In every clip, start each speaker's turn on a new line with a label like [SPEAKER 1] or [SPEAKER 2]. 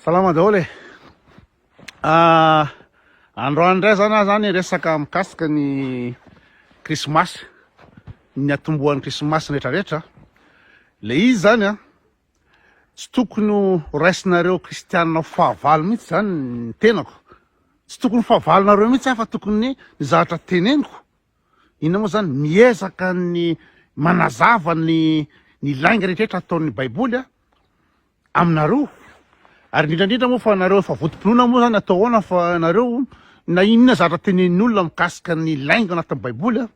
[SPEAKER 1] Salama daholo e! Androany indray zany aho zany resaka mikasika ny krismasy, ny atombohan'ny krismasy rehetra rehetra. Le izy zany a, tsy tokony ho raisinareo kristianina ho fahavalo mihitsy zany ny tenako, tsy tokony ho fahavalonareo mihitsy aho fa tokony ny zavatra teneniko, inona moa zany, miezaka ny manazava ny ny lainga rehetra rehetra ataon'ny baiboly a, aminareo ary indrindra indrindra moa fa nareo efa votompinoana moa zany atao ahoana fa nareo na inona zatra tenenin'olona mikasika ny lainga anatin'ny baiboly a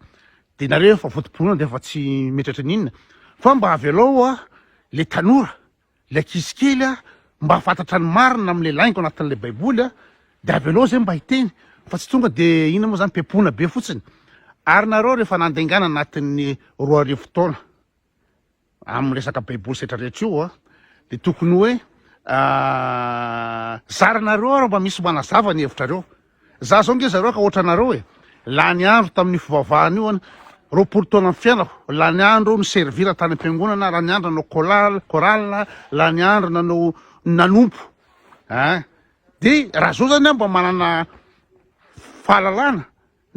[SPEAKER 1] de nareo efa votompinoana de efa tsy metratry ny inona fa mba avelao a le tanora le ankizy kely a mba hafantatra ny marina amle lainga anatin'le baiboly a de avelao zay mba hiteny fa tsy tonga de inona moa zany pepona be fotsiny ary nareo rehefa nandengana anatin'ny roa arivo taona Amin'ny resaka baiboly setra rehetra io a, dia tokony hoe zaranareo ary mba misy manazava ny hevitrareo. Za zao nge zareo ka ohatra anareo e, lany andro tamin'ny fivavahana io an, roapolo taona ny fiainako, lany andro ny servira tany am-piangonana, lany andro nanao kolal, chorale, lany andro nanao nanompo a, dia raha zao zany aho mba manana fahalalana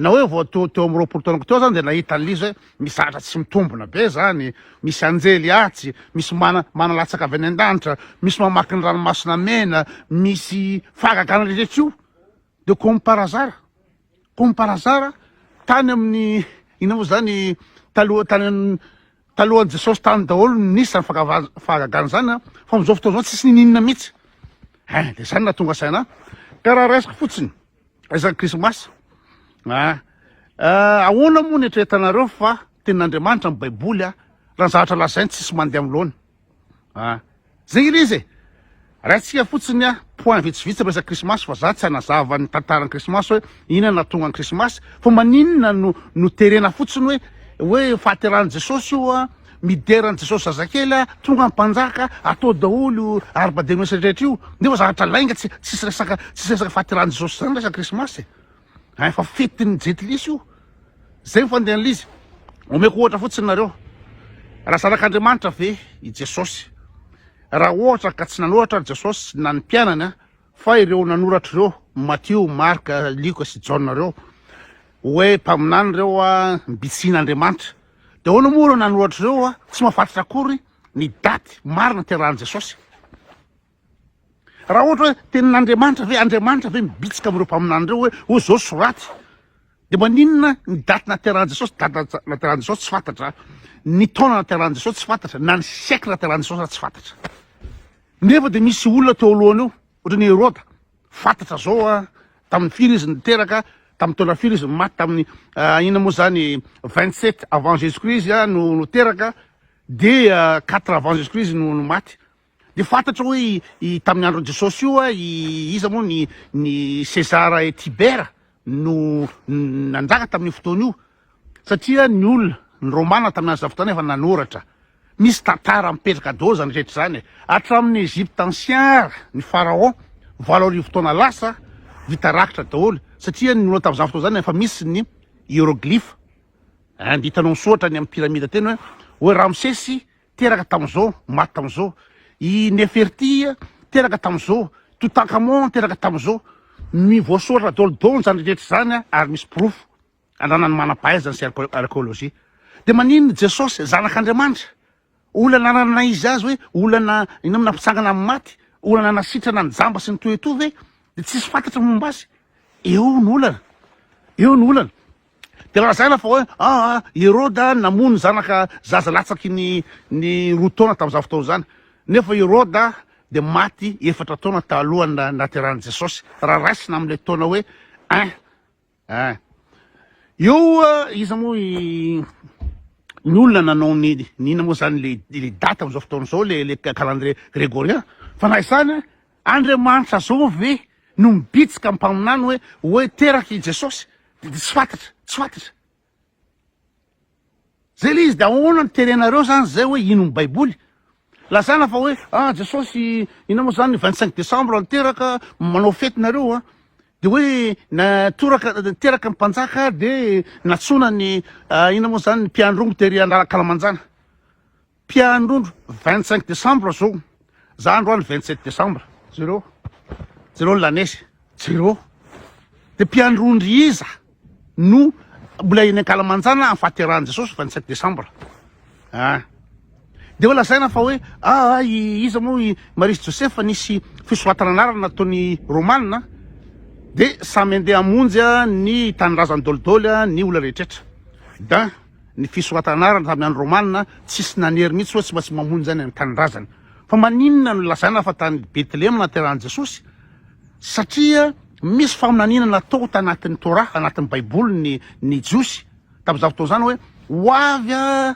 [SPEAKER 1] Na hoe vao teo teo amin'ny roapolo taonako teo aho zany dia nahita an'i Liza hoe misy zavatra tsy mitombina be zany, misy anjely atsy, misy mana manalatsaka avy any an-danitra, misy mamaky ny ranomasina mena, misy fahagagana rehetra io, dia comme par hasard, comme par hasard, tany amin'ny inona moa zany taloha tany an talohan'i Jesosy tany daholo no nisy zany fagava- fahagagana zany an, fa amin'izao fotoana izao tsisy ninininina mihitsy, hein dia zany no nahatonga saina ahy, ka raha raisiko fotsiny. Aiza ny krismasy? Ah, ah, ahoana moa ny eritreretanareo fa tenin'Andriamanitra ny Baiboly ah, raha ny zavatra lazainy tsisy mandeha amin'ny laoniny. Ah, zegny ilay izy e. Raintsika fotsiny ah, point vitsivitsy ny resaka krismasy fa za tsy hanazava ny tantaran'ny krismasy hoe inona no nahatonga ny krismasy fa maninona no no terena fotsiny hoe hoe fahaterahan'i Jesosy io ah, Midera an'i Jesosy zazakely a, tonga mpanjaka, atao daholo io arbadenosy rehetra io, nefa zavatra lainga tsy tsisy resaka tsisy resaka fahaterahan'i Jesosy zany resaka krismasy e, hein fa fetin'ny jentilisa io, zay ny fandehan'izy, omeko ohatra fotsiny nareo, raha zanak'Andriamanitra ve i Jesosy? raha ohatra ka tsy nanoratra ry Jesosy na ny mpianany a, fa ireo nanoratra ireo, Matio, Marka, Lioka sy Jaona ireo, hoe mpaminany ireo a, mbitsihin'Andriamanitra, Dia ahoana moa ireo nanoratra ireo hoa tsy mahafantratra akory ny daty marina niterahan'i Jesosy? Raha ohatra hoe tenin'Andriamanitra ve, Andriamanitra ve mibitsika amin'ireo mpaminany ireo hoe hoy izao soraty? Dia maninona ny daty naterahan'i Jesosy, daty naterahan'i Jesosy tsy fantatra, ny taona naterahan'i Jesosy tsy fantatra, na ny siècle naterahan'i Jesosy aza tsy fantatra. Nefa dia misy olona teo alohany eo, ohatra ny Heroda. Fantatra zao a tamin'ny firy izy niteraka, tamin'ny taona firy izy maty, tamin'ny inona moa zany 27 avant jesus christ izy a no no teraka de 4 avant jesus christ izy no no maty de fantatra hoe i tamin'ny andron'i jesosy io a i iza moa ny ny cesar et tibera no nanjaka tamin'io fotoana io Satria ny olona, ny Romana tamin'ny andro tamin'izany efa nanoratra. Misy tantara mipetraka daholo izany rehetra izany e! Hatramin'ny Egypte ancien ary ny Pharaon valo arivo taona lasa vita rakitra daholo satria ny olona tamin'izany fotoana izany efa misy ny hieroglyphes eh, dia hitanao misoratra any amin'ny pyramide teny hoe hoe Ramsesy teraka tamin'izao, maty tamin'izao, i Neferti teraka tamin'izao, Toutankhamon teraka tamin'izao, mi- voasoratra daholo daholo izany rehetra izany ary misy porofo. Andranan'ny manam-pahaizana sy arkeolojia. Dia maninona i Jesosy, Zanak'Andriamanitra? Olana anananay izy azy hoe olana inona nampitsangana amin'ny maty? Olana nasitrana ny jamba sy ny toy etoa ve? Dia tsisy fantatra ny momba azy. Eo ny olana. Eo ny olana. Dia lazaina fa hoe ah, ah, i Heroda namono ny zanaka zaza latsaky ny ny roa taona tamin'izany fotoana izany. Nefa i Heroda dia maty efatra taona talohan'ny nahaterahan'i Jesosy, raha raisina amin'ilay taona hoe un. Ah. Eo iza moa i ny olona nanao ny nina moa zany le le date am'zao fotoana zao le le calendrier grégorien fa na izany Andriamanitra zao ve no mibitsika mpaminany hoe hoe teraky i Jesosy? Tsy fantatra, tsy fantatra. Zay le izy de ahoana no terenareo zany zay hoe ino ny baiboly? Lazaina fa hoe ah Jesosy inona moa zany vingt cinq décembre no teraka manao fety nareo a de hoe na toraka teraka ny mpanjaka de natsoina ny inona moa zany ny mpiandrongo tery an'Alakalamanjana Mpianondro vingt cinq decembre zao za androany vingt sept decembre jereo jereo ny lanezy jereo de mpianondry iza no mbola eny ankalamanjana amin'ny fahaterahan'i jesosy vingt sept decembre a ah. de hoe lazaina fa hoe aa ah, ah, iza moa i marie sy josefa nisy fisoratana anarana nataony romana de samy andeha hamonjy ny tanindrazany dolidoly ny olona rehetretra da ny fisoratana anarana tamin'ny andro romanina, tsisy nanery mihitsy hoe tsy maintsy mamonjy any an-tanindrazany. Fa maninona no lazaina fa tany Betlehema no naterahan'i Jesosy? Satria misy faminaniana natao tanatin'ny Torah, anatin'ny Baiboly ny ny Jiosy tamin'izany fotoana izany hoe ho avy a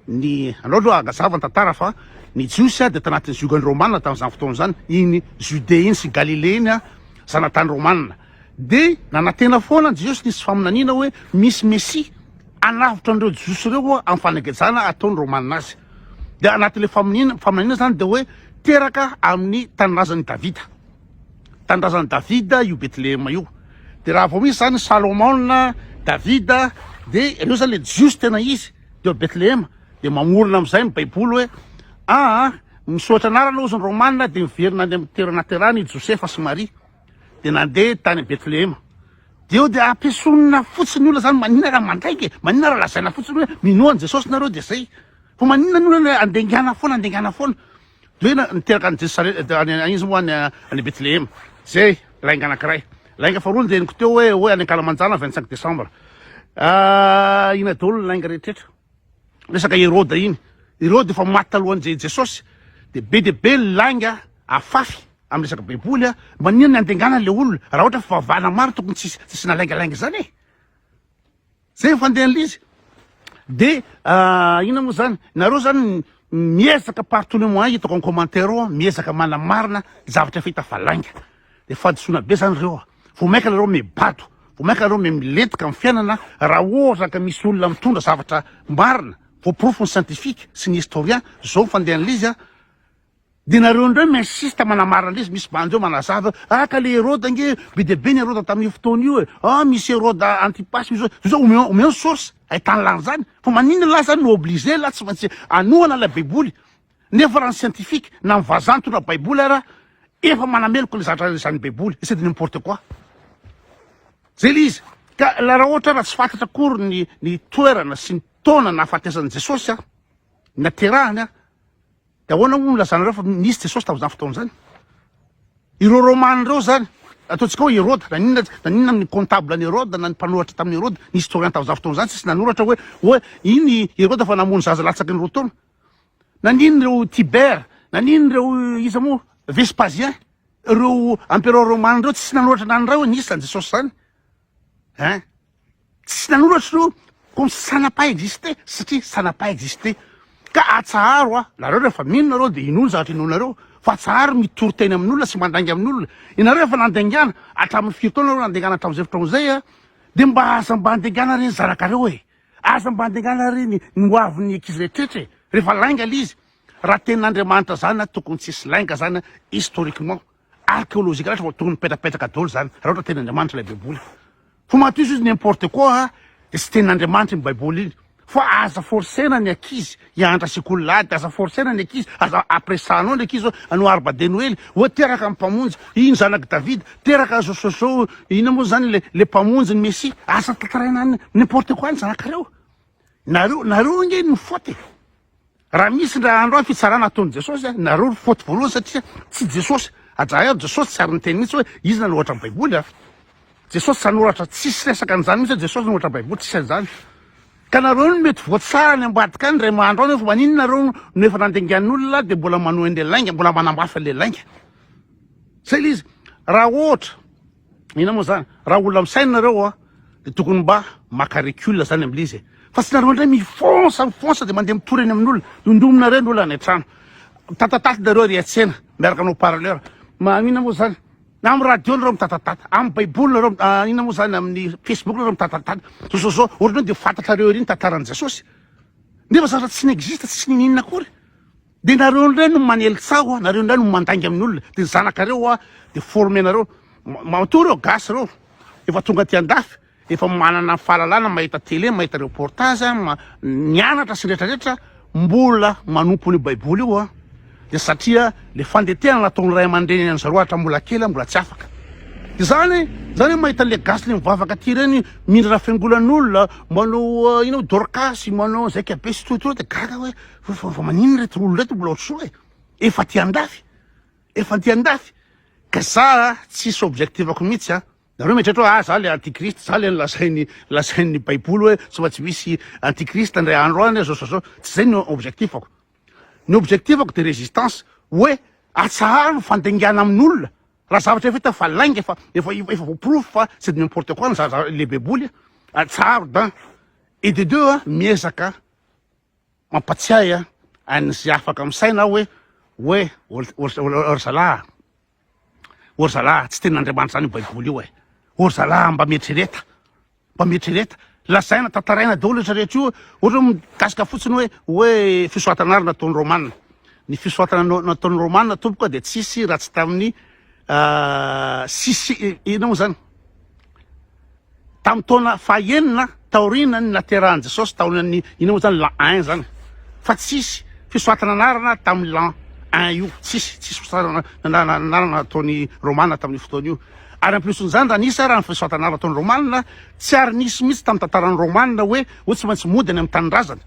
[SPEAKER 1] ny andao aloha hagazava ny tantara fa ny Jiosy a dia tanatin'ny ziogan'ny Romanina tamin'izany fotoana izany, iny Judée iny sy Galilée iny a, zanatany Romanina. Dia nanantena foana ny Jiosy nisy faminaniana hoe misy Mesia. Hanavotra an'ireo Jiosy ireo ho'a amin'ny fanagejana ataon'ny Romana azy. Dia anatin'ilay faminiana, faminaniana izany dia hoe teraka amin'ny tanindrazan'i Davida. Tanindrazan'i Davida io Betlehema io. Dia raha vao misy izany Salomona, Davida, dia ireo izany ilay Jiosy tena izy, dia ao Betlehema. Dia mamorona amin'izay ny Baiboly hoe, aa, misoatra anarana hozy ny Romana dia miverina any amin'ny toerana haterany i Josefa sy Maria. dia nandeha tany Bethlehema. Dia eo dia ampiesonina fotsiny olona zany, manina raha mandraika e, manina raha lazaina fotsiny hoe minoa an'i Jesosy nareo dia zay. Fa manina ny olona andengana foana, andengana foana. Dia hoe niteraka an'i Jesosy any izy moa any Bethlehema. Zay, lainga anankiray. Lainga faharoa ny reniko teo hoe hoe any Ankalamanjana 25 décembre. Ah, ina daholo ny lainga rehetra. Resaka Heroda iny. Heroda efa maty talohan'i Jesosy. Dia be dia be ny lainga afafy. Amin'ny resaka baiboly a, maninona ny andengana an'ilay olona raha ohatra fivavahana maro tokony tsy hisy asiana laingalainga izany e! Zay ny fandehan'lizy. De inona moa zany, nareo zany miezaka partout le moyen hitako en commentaire ao miezaka manamarina zavatra efa hita fa lainga. De fahadisoana be zany reo a! Vao mainka nareo mibato, vao mainka nareo milentika amin'ny fiainana raha ohatra ka misy olona mitondra zavatra marina voaporofon'ny scientifique sy ny historien, zao ny fandehan'lizy a! Dia nareo indray no insiste manamara an'ilay izy, misy bandy eo manazava eo, ah ka le Heroda ange be dia be ny Heroda tamin'io fotoana io e, ah misy Heroda Antipas misy hoe, zao omeo omeo ny source ahitany lany zany, fa maninona lahy zany no obligé lahy tsy maintsy anohana ilay baiboly, nefa raha ny scientifique na ny vazaha nitondra baiboly ara efa manameloka le zatra izany baiboly, c'est de n'importe quoi. Zay le izy, ka la raha ohatra raha tsy fantatra akory ny ny toerana sy ny taona nahafatesan'i Jesosy an, naterahany an, Dia ahoana hono no ilazanareo fa nisy Jesosy tamin'izany fotoana izany? Ireo Romana ireo izany, ataontsika hoe Heroda, na inona na inona amin'ny comptable an'i Heroda na ny mpanoratra tamin'i Heroda, ny historien tamin'izany fotoana izany tsisy nanoratra hoe hoe iny i Heroda fa namono zaza latsaky ny roa taona. Nanino ireo Tibère, nanino ireo iza moa Vespasien, ireo empereurs Romana ireo tsisy nanoratra na ny iray hoe nisy izany Jesosy izany. Hein? Tsy nanoratra izy io comme ça n'a pas existé satria ça n'a pas existé. Ka atsaharo hoa, nareo rehefa mino nareo dia inoa ny zavatra inoanareo fa atsaharo ny mitory teny amin'olona sy mandainga amin'olona. Ianareo efa nandaingana hatramin'ny firy taona nareo nandaingana hatramin'izay fotoana izay a? Dia mba aza mba andaingana ireny zanakareo e! Aza mba andaingana ireny ny ho avin'ny ankizy rehetrrehetra e! Rehefa lainga ilay izy, raha tenin'Andriamanitra izany a, tokony tsy hisy lainga izany a, historiquement. archéologique raha vao tokony mipetrapetraka daholo zany raha ohatra tena Andriamanitra ilay baiboly fa matoizy izy n'importe quoi a dia tsy tenin'Andriamanitra iny baiboly iny fa aza forcena ny ankizy hianatra sekoly lahy dia aza forcena ny ankizy aza apresanao ny ankizy anao arba de noely oa teraka ny mpamonjy iny zanak'i David teraka zosozo inona moa zany le le mpamonjy ny messie aza tantaraina n'importe quoi ny zanakareo nareo nareo ange ny faute Raha misy indray andro any fitsarana ataon'i Jesosy, nareo ry faute voalohany satria tsy Jesosy. Ajareo Jesosy tsy ary niteny mihitsy hoe izy nanoratra ny baiboly a. Jesosy tsy nanoratra, tsisy resaka an'izany mihitsy hoe Jesosy nanoratra baiboly, tsisy an'izany. Ka nareo no mety voatsara any ambadika any indray andro any hoe fa maninona nareo no efa nandengan'olona dia mbola manohy an'ilay lainga, mbola manamafy an'ilay lainga. Zay ilay izy. Raha ohatra. Inona moa zany? Raha olona misaina nareo a de tokony mba maka recul zany amle izy e! Fa tsy nareo ndray mifonsa mifonsa de mandeha mitory eny amin'olona, dondominareo ny olona any an-trano, mitatataty nareo ary hiatsena miaraka amin'ny haut parleur, ma inona moa zany? Amin'ny radio nareo mitatataty, amin'ny baiboly nareo a inona moa zany amin'ny facebook nareo mitatataty, zao zao zao, ohatrareo de fantatrareo ery ny tantaran'i Jesosy nefa zavatra tsy n'existe tsy niniana akory. Dia nareo ndray no manely tsaho nareo ndray no mandainga amin'ny olona dia ny zanakareo hoa dia forme nareo matoa reo gasy reo efa tonga aty andafy efa manana fahalalana mahita tele mahita reportage nianatra sy rehetra rehetra mbola manompo ny baiboly io hoa dia satria le fandetehana nataon'ny ray aman-dreny an'i zareo hatra mbola kely mbola tsy afaka izany izany mahita le gasy le mivavaka aty ireny mindra fiangolan'olona manao ino dorcas manao zaika be sy totoa dia gaga hoe Fa fa maninona reto olona reto mbola ohatr'izao e? Efa aty andafy. Efa aty andafy. Ka za tsisy objectif-ako mihitsy a. Nareo mieritreritra hoe ah za le antichrist, za le lazain'ny lazain'ny baiboly hoe tsy mba tsy misy antichrist indray andro any zao zao zao. Tsy zay ny objectif-ako. Ny objectif-ako de résistance hoe atsaharo ny fandengana amin'olona. Raha zavatra efa hita fa lainga efa efa efa voaporofo fa c'est de n'importe quoi ny za za le baiboly a. Atsaharo d'un. Et de deux a miezaka Mampatsiahy an'izay afaka misaina aho hoe, hoe, O ry zalahy, o ry zalahy, tsy tenin'Andriamanitra izany io Baiboly io e! O ry zalahy, mba mieritrereta, mba mieritrereta, lazaina, tantaraina daholo io rehetra io, ohatra hoe mikasika fotsiny hoe, hoe fisoratana àry nataon'ny Romana. Ny fisoratana nataon'ny Romana tompoko a dia tsisy raha tsy tamin'ny, tsisy, inona moa izany? Tamin'ny taona fahenina taorianan'ny naterahan'i Jesosy tao amin'ny, iny moa zany l'an un zany, fa tsisy fisoratana anarana tamin'ny l'an un io, tsisy, tsisy fisoratana anarana nataon'ny Romana tamin'io fotoana io. Ary en plus n'izany raha nisy ara ny fisoratana anarana nataon'ny Romana, tsy ary nisy mihitsy tamin'ny tantaran'ny Romana hoe hoe tsy maintsy mody any amin'ny tanindrazana.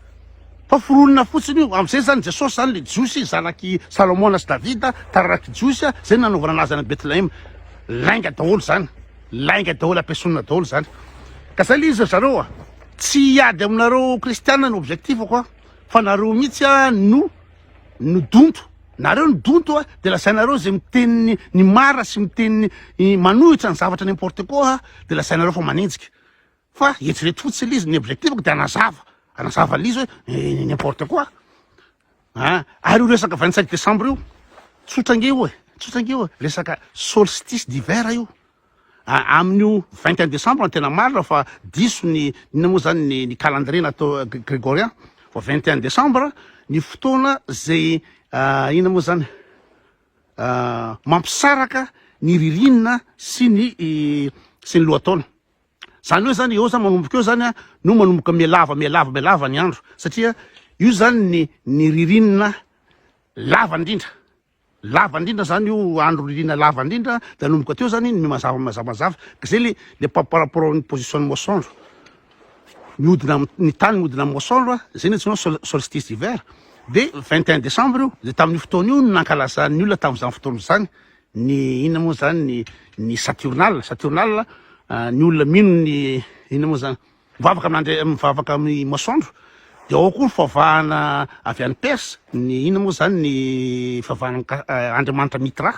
[SPEAKER 1] Fa foronina fotsiny io, amin'izay zany Jesosy zany le Jiosy zanak'i Salomona sy Davida, taranak'i Jiosy, zay nanaovana anazy any Bethlehema. Lainga daholo zany. Lainga daholo ampiesonina daholo zany ka zay le izy ry zareo a! Tsy hiady aminareo kristiana no objectif-ko a! Fa nareo mihitsy a no no donto! Nareo no donto a! De lazainareo ze miteny ny marina sy miteny manohitra ny zavatra n'importe quoi a! De lazainareo fa manenjika! Fa eritrereto fotsiny l'izy, ny objectif-ko dia hanazava, hanazava l'izy hoe n'importe quoi an! Ary io resaka vingt cinq décembre io, tsotra ange io e, tsotra ange io e, resaka solstice d'hiver io, amin'io vingt et un décembre no tena marina fa diso ny, inona moa zany ny ny calendrier natao gregorien, fa vingt et un décembre ny fotoana zay inona moa zany mampisaraka ny ririnina sy ny sy ny lohataona. Zany hoe zany eo zany manomboka eo zany no manomboka mihalava mihalava mihalava ny andro satria io zany ny ny ririnina lava indrindra lava indrindra zany io andro ririnina lava indrindra de anomboka teo zany ny mazava mazava mazava ka zay le le par rapport amin'ny position masoandro mihodina ny tany mihodina amin'ny masoandro zay ny antsoina sol solstice d'hiver de 21 décembre io de tamin'io fotoana io nankalazan'ny olona tamin'izany fotoana izany Ny inona moa zany ny ny saturnale? Saturnale ny olona mino ny inona moa zany? Mivavaka amin'andri- mivavaka amin'ny masoandro dia ao koa ny fivavahana avy any Persa ny inona moa zany ny fivavahana an'i Ka- Andriamanitra Mitra,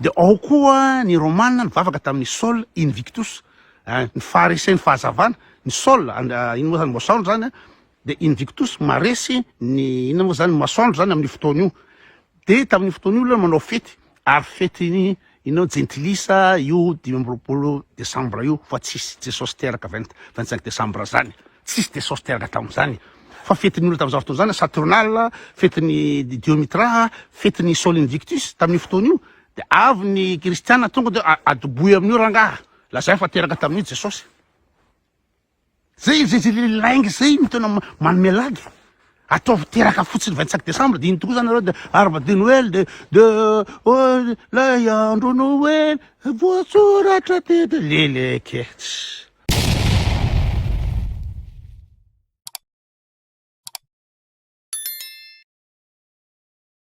[SPEAKER 1] dia ao koa ny Romana nivavaka tamin'ny Sol Invictus, ny faharesen'ny fahazavana, ny Sol and- inona moa zany masoandro zany a, De invictus maresy ny inona moa zany masoandro zany amin'ny fotoana io de tamin'io fotoana io aloha manao fety ary fety ny inona jentilisa io dimy amby roapolo desambra io fa tsisy jesosy teraka vingt vingt cinq desambra zany tsisy jesosy teraka tamin'izany fa fetin'ny olona tamin'izany fotoana zany saturnale fetin'ny diomitra fetin'ny sol invictus tamin'io fotoana io de avy ny kristiana tonga de adoboy amin'io rangaha lazay fa teraka tamin'io jesosy Zay zay zay le lainga zay no tena manome lagy. Ataovy teraka fotsiny 25 décembre dia iny tokoa zany nareo dia arba de Noël de de oh lay andro Noël voasoratra tety le le ketsy.